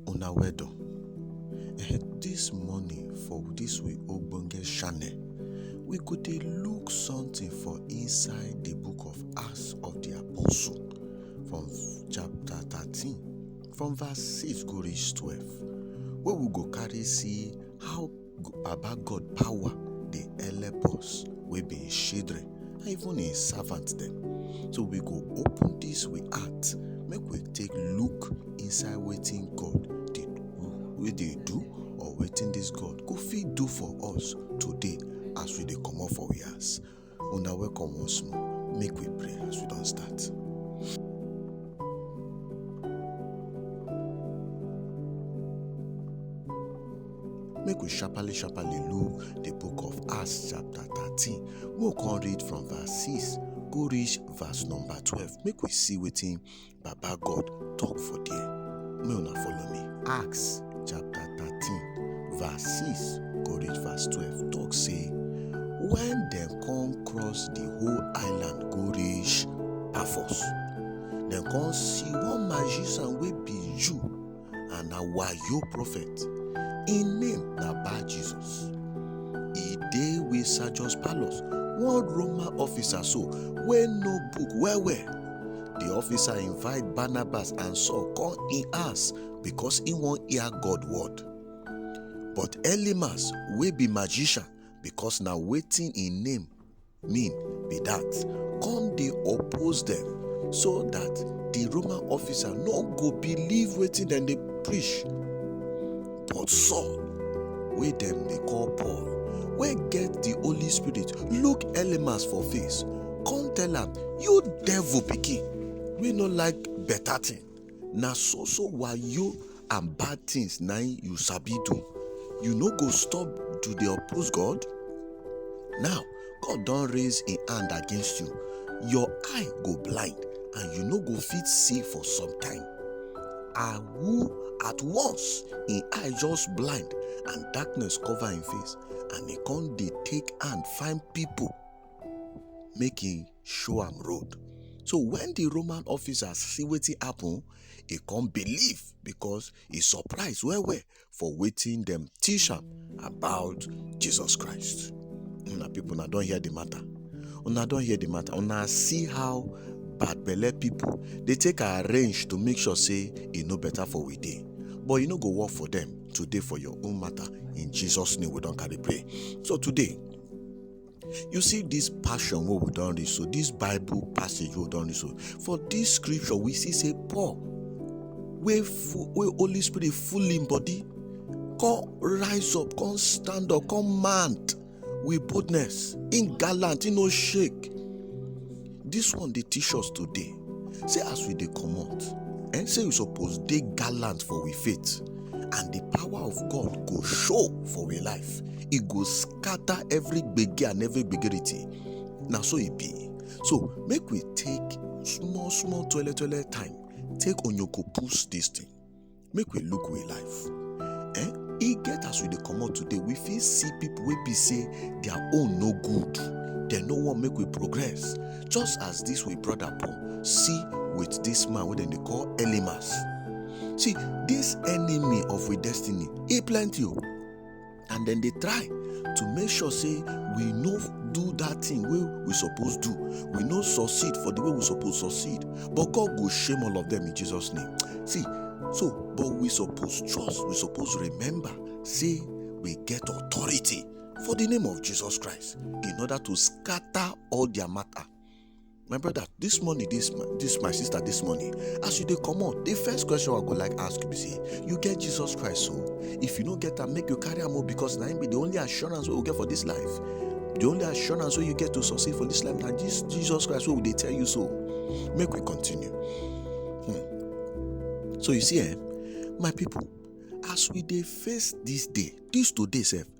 una well done this morning for this we ogbonge channel we go dey look something for inside the book of acts of the apostle from chapter 13 from verse 6 go reach 12 where we go carry see how Baba God power dey help us wey be his children and even his servants dem. So we go open this we heart make we take look inside wetin God dey do, wey dey do or wetin this God go fit do for us today as we dey comot for we house. Una welcome once more. Make we pray as we don start. Make we sharply sharply look the book of Acts chapter 13. Make we come read from verse 6 go reach verse number 12. Make we see wetin Baba God talk for there. May una follow me. Acts chapter 13, verse 6, go reach verse 12. Talk say, when dem come cross the whole island go reach Paphos, dem come see one magician wey be Jew and na wayo prophet im name na bar jesus e dey wey sergeus paulus one roma officer so wey know book well well di officer invite barnabas and saul come im house becos im wan hear god word but elimas wey be magician becos na wetin im name mean be dat come dey oppose dem so dat di roman officer no go believe wetin dem dey preach but saul wey dem dey call paul wey get di holy spirit look elymas for face come tell am you devil pikin wey no like beta tin na so so wayo and bad things na im you sabi do you no go stop to dey oppose god now god don raise im hand against you your eye go blind and you no go fit see for some time and who at once im eye just blind and darkness cover im face and e come dey take hand find people make im show am road. So when the Roman officers see wetin happen, e come believe because e surprise well well for wetin dem teach am about Jesus Christ. Una people una don hear the matter. Una don hear the matter. Una see how bad belle people dey take arrange to make sure say e no better for we dey. But e no go work for them today for your own matter. In Jesus' name we don carry pray. So today, you see this passion wey we don read so this bible passage wey we don read so for this scripture we see say paul wey wey holy spirit full him body come rise up come stand up come mount with boldness him gallant him no shake Dis one dey teach us today sey as we dey comot um sey we suppose dey gallant for we faith and di power of God go show for we life, e go scatter every gbege and every gbegerity, na so e be. So make we take small small tweletoile time take onyoko pus dis tin. make we look we life eh e get as we dey comot today we fit see people wey be say their own no good dem no wan make we progress just as this we brother paul see with this man wey dem dey call elimas see this enemy of we destiny e plenty o and dem dey try to make sure say we no do that thing wey we suppose do we no succeed for the way we suppose succeed but god go shame all of them in jesus name see so but we suppose trust we suppose remember say we get authority for the name of jesus christ in order to scatter all their matter my brother this money this my this my sister this money as you dey comot the first question i go like ask you be say you get jesus christ so if you no get am make you carry am o because na him be the only assurance wey we get for this life the only assurance wey you get to succeed for this life na this jesus christ wey we dey tell you so make we continue hmm. so you see eh my people as we dey face this day this today sef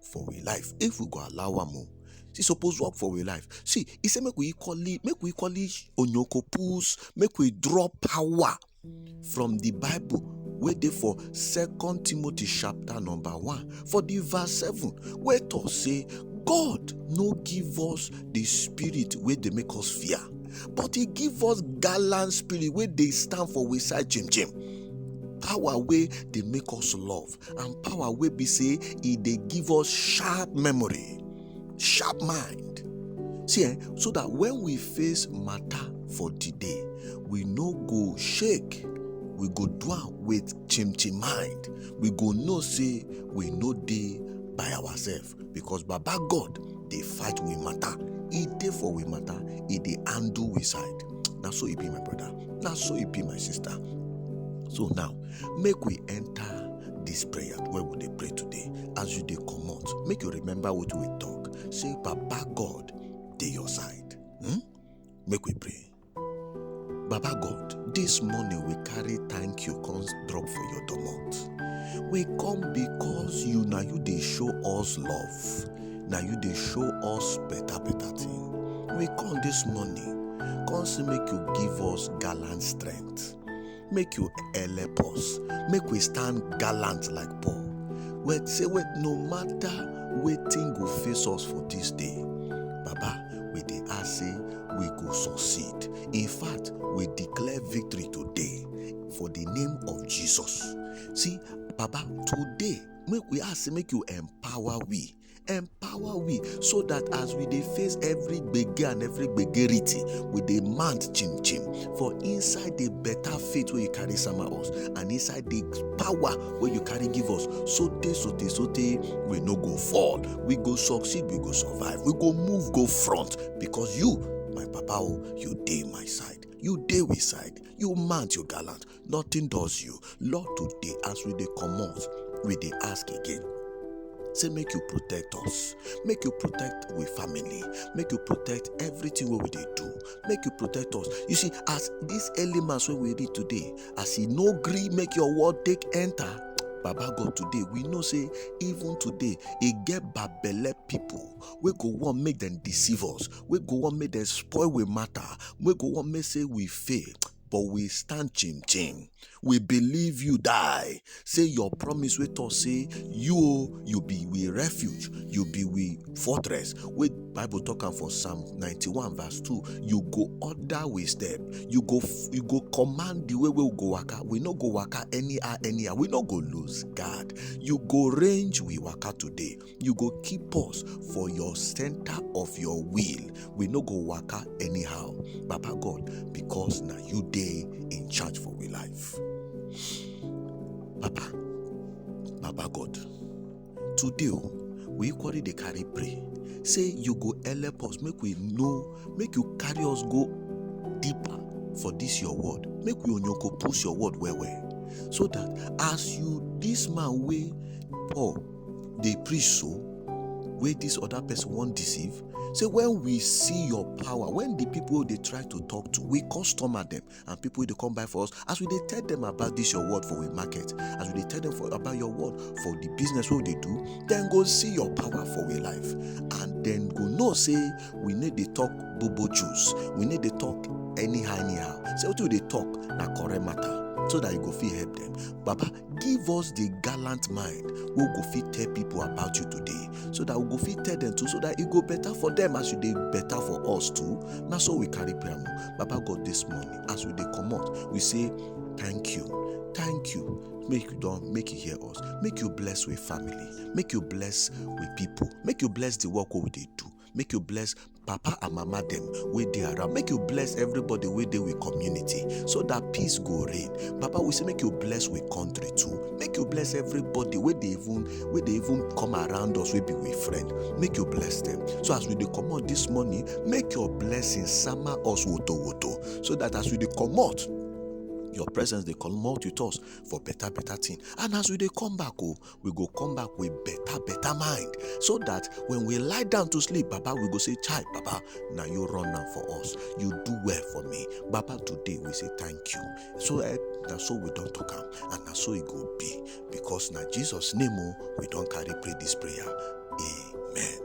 for we life if we go allow am o e suppose work for we life see e say make we equally make we equally onyoko pulls make we draw power from the bible wey dey for second timothy chapter number one for the verse seven wey talk say god no give us the spirit wey dey make us fear but he give us gallant spirit wey dey stand for we side jim jim power wey dey make us love and power wey be say e dey give us sharp memory sharp mind see eh so that when we face matter for the day we no go shake we go do am with chimchim mind we go know say we no dey by ourselves because baba god dey fight we matter e dey for we matter e dey handle we side na so e be my brother na so e be my sister so now make we enter this prayer wey we dey pray today as you dey comot make you remember wetin we talk say baba god dey your side hmm? make we pray Baba God, this morning we carry thank you comes drop for your domot. We come because you now you they show us love. Now you they show us better better thing. We come this morning, come see make you give us gallant strength. make you help us make we stand gallant like paul wey say wait no matter wetin go face us for dis day baba we dey ask say we go succeed in fact we declare victory today for di name of jesus see baba today make we ask say make you empower we empower we so that as we dey face every gbege and every gbegerity we dey mount chim chim for inside the better faith wey you carry sama us and inside the power wey you carry give us so tey so tey so tey we no go fall we go succeed we go survive we go move go front because you my papa o you dey my side you dey we side you mount you gallant nothing does you lord today as we dey comot we dey ask again say make you protect us make you protect we family make you protect everything wey we dey do make you protect us you see as this early mass wey we read today as e no gree make your word take enter baba god today we know say even today e get babele people wey go wan make dem deceive us wey go wan make dem spoil we matter wey go wan make say we fail but we stand chim chim we believe you die say your promise wey talk say you o you be we refuge you be we fortress wey bible talk am for psalm 91 verse 2 you go order we step you go you go command the way wey we go waka we no go waka anyhow anyhow we no go lose guard you go range we waka today you go keep us for your center of your will we no go waka anyhow baba god because na you dey in charge for we life papa baba god today o we equally dey carry pray say you go help us make we know make you carry us go deeper for this your word make we onyoko push your word well well so that as you this man wey paul dey preach so wey this other person wan deceive say when we see your power when the people dey try to talk to we customer them and people dey come buy for us as we dey tell them about this your word for we market as we dey tell them for, about your word for the business wey we dey do then go see your power for we life and then go know say we need dey talk bobo juice we need dey talk anyhow anyhow say wetin we dey talk na correct matter so that you go fit help them baba give us the gallant mind wey go fit tell people about you today so that we go fit tell them too so that e go better for them as you dey better for us too na so we carry prayer mo baba god this morning as we dey comot we say thank you thank you make you don make you hear us make you bless we family make you bless we people make you bless the work wey we dey do make you bless papa and mama dem wey dey around make you bless everybody wey dey we community so dat peace go reign papa we say make you bless we country too make you bless everybody wey dey even wey dey even come around us wey be we friend make you bless dem so as we dey comot dis morning make your blessing sama us woto woto so dat as we dey comot your presence dey comot with us for better better thing and as we dey come back o we go come back with better better mind so that when we lie down to sleep baba we go say chai baba na you run am for us you do well for me baba today we say thank you so eh, na so we don talk am and na so e go be because na jesus name o oh, we don carry pray this prayer amen.